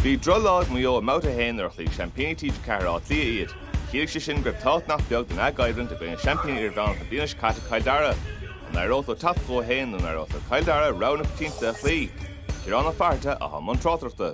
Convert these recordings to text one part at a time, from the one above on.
Bhí drochlá ag Maigh Eo i mbabhta a haon nuair a chloígh seaimpíní TG4 Áth Cliath iad. Chiallaigh sé sin go raibh tábhacht nach beag lena gcoimhlint i gcoinne seaimpín idirmheánach na bliana seo caite Cill Dara. An éireodh leo teacht chucu féin nó an éireodh le Cill Dara rogha na coitianta a chloí? Ciarán Ó Fátharta atá i mbun tráchtaireachta.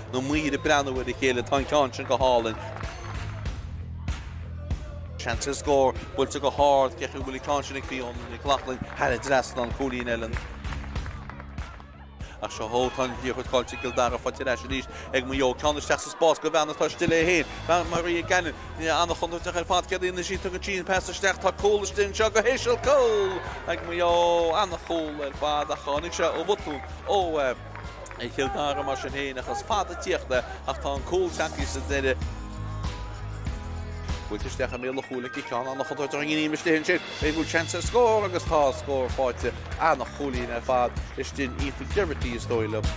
na maoir ag breathnú ar a chéile, tá an ceann sin go hálainn. Seans ar scór, buailte go hard, féach an bhfuil an ceann sin ag Fiona Nic Lochlainn thar an trasnán, cúilín eile. Ach seo ó, tá an liathróid caillte ag Cill Dara faighte ar ais arís ag Maigh Eo. Ceann isteach sa spás go bean atá istigh léi féin, Maria Cannon an-chontúirteach ar fad, céard a dhéanann sí? Tugann sí an pas isteach, tá cúl istigh anseo go híseal, cúl ag Maigh Eo, an-chúl ar fad ach tháinig sé ó bhotún ó. ag Cill Dara mar sin féin ach is fada ag tíocht é ach tá an cúl tagtha sa deireadh. Buailte isteach i mbéal an chúil aici, ceann an-chontúirteach Ní Aoimis Liath ansin an bhfuil seans ar scór agus tá scór faighte an-chúilín ar fad is sin í Aoife Geraghty is dóigh liom.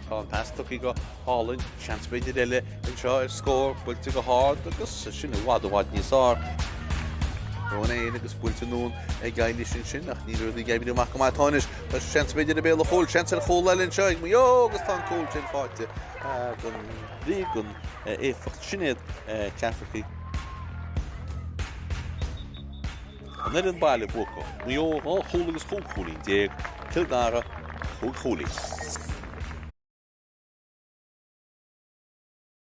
Tá an pas tugtha go hálainn, seans b'fhéidir eile anseo ar scór, buailte go hard agus sin i bhfad i bhfad níos fearr. Ronayne agus buailte anonn ag Éilis ansin ach níl rudaí ag oibriú amach go maith ach tá anois. Tá seans b'fhéidir i mbéal an chúil, seans ar chúl eile anseo ag Maigh Eo agus tá an cúl sin faighte don Bhrígh, don éifeacht Sinéad Cafferky. An fhoireann baile buacach, Maigh Eo dhá chúl agus chúig chúilín déag, Cill Dara cúig chúilín.